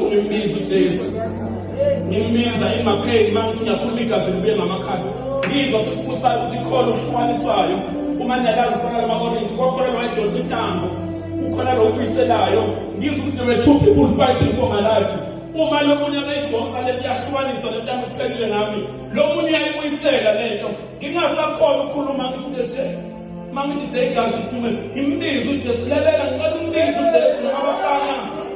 Ngimbiza uJesu. Ngimbiza in my pain uma ngithi ngiyakhuluma igazi libuye ngamakhanda. Ngizwa sesibusayo ukuthi khona okuhlukaniswayo uma niyalazi sakala ama-orange kwakhona lo edonsa intambo kukhona lo ubuyiselayo ngizwa ukuthi there were two people fighting for my life uma lo munye akayidonsa le kuyahlukaniswa le ntambo iphelile ngami lo munye uyayibuyisela le nto ngingasakhona ukukhuluma ngithi uthe Uma ngithi nje igazi liphume, ngimbize uJesu, lalela ngicela umbize uJesu noma abafana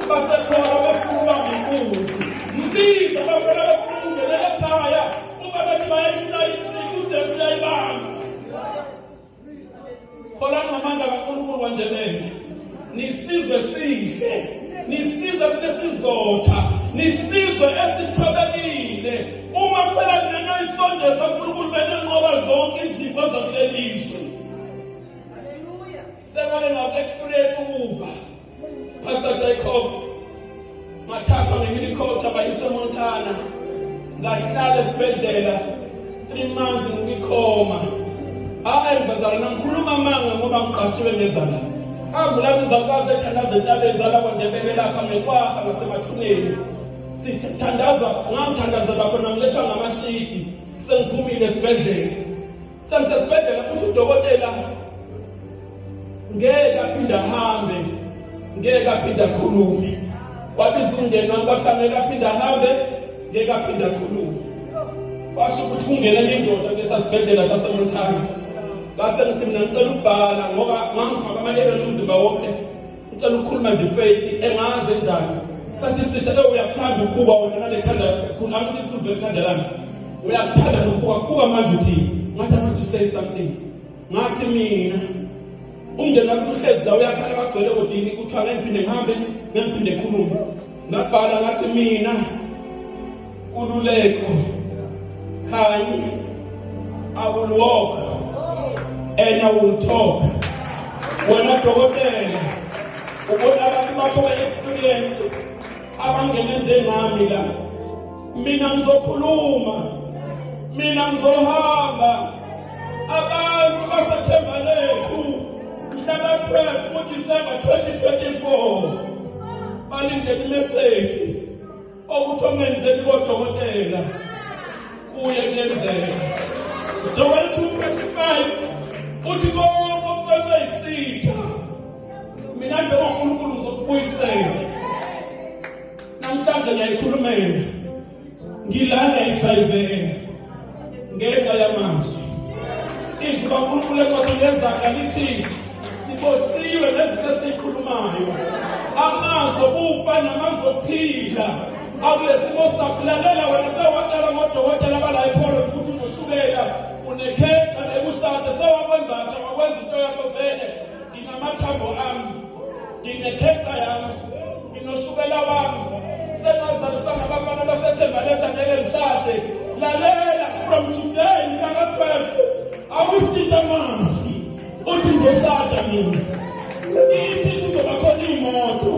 basekhona befuna ukubamba inkunzi. Mbize abafana befuna ukungenela ekhaya, uma bathi bayayishaya inhlika uJesu uyayibamba. Kholani ngamandla kaNkulunkulu kwaNdebele. Nisizwe sihle, nisizwe sinesizotha, nisizwe esithobekile. Uma kuphela nento isondeza uNkulunkulu benenqoba zonke izifo zakulelizwe. Hallelujah. Sengake ngaku experience ukuva. Pastor Jacob ngathathwa ngehelicopter bayise montana ngahlala esibhedlela three months ngikwikhoma hayi bazala nangikhuluma amanga ngoba ngiqashiwe ngezala angulapho izalukazi ethandaza entabeni zalapho ndebele lapha ngekwaha ngasemathuneni sithandazwa ngamthandazela khona ngilethwa ngamashidi sengiphumile esibhedlela Semsesibhedlela futhi udokotela ngeke aphinde ahambe ngeke aphinde akhulume wabiza umndeni wami bathi angeke aphinde ahambe ngeke aphinde akhulume washo ukuthi kungena enye indoda besasibhedlela sasemuthana ngase ngithi mina ngicela ukubhala ngoba ngangifaka amalelo nomzimba wonke Ngicela ukukhuluma nje Faith engaze njani. Sathi sitha ke uyakuthanda ukubuka wena nalekhanda khona angithi inkundla ekhanda lami. Uyakuthanda ukubuka kuba manje uthi ngathi abantu say something. Ngathi mina umndeni wakho uhlezi la uyakhala bagcwele kodini kuthiwa ngiphinde ngihambe ngiphinde khulume Ngabhala ngathi mina Kululeko Khanyi I will walk and I will talk. Wena dokotela ubona abantu bakho be experience abangene njengami la. Mina ngizokhuluma. Mina ngizohamba. Abantu basethemba lethu mhlaka 12 kuDisemba 2024 balinde imeseji okuthi omenzeni kodokotela kuye kuyenzeka. Joel 2:25 uthi konke okucocwe isitha mina njengoNkulunkulu ngizokubuyisela. Namhlanje ngiyayikhulumela ngilala idrivela ngenxa yamazwi izwi kankulunkulu eqotho lezakha lithi siboshiwe nezinto esiyikhulumayo amazwi okufa namazwi okuphila akulesimo sakulalela wena sewatshela ngodokotela bala epholo ukuthi unoshukela unekhetha nekushade sewakwembatha wakwenza into yakho vele nginamathambo ami nginekhetha yami nginoshukela wami senazalisa ngabafana basethembaletha ngeke lishade lalela from today ngaka 12 awusithe amazwi uthi ngizoshada mina ithi kuzoba khona iy'moto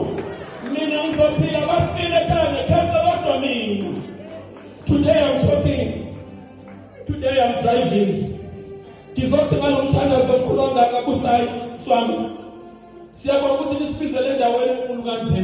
mina ngizophila bafile ekhaya ngekhetha kodwa mina today i'm talking Today I'm driving. Ngizothi ngalomthandazo omkhulu ongaka kusayi siswami. Siyabonga ukuthi nisibizele endaweni enkulu kanje.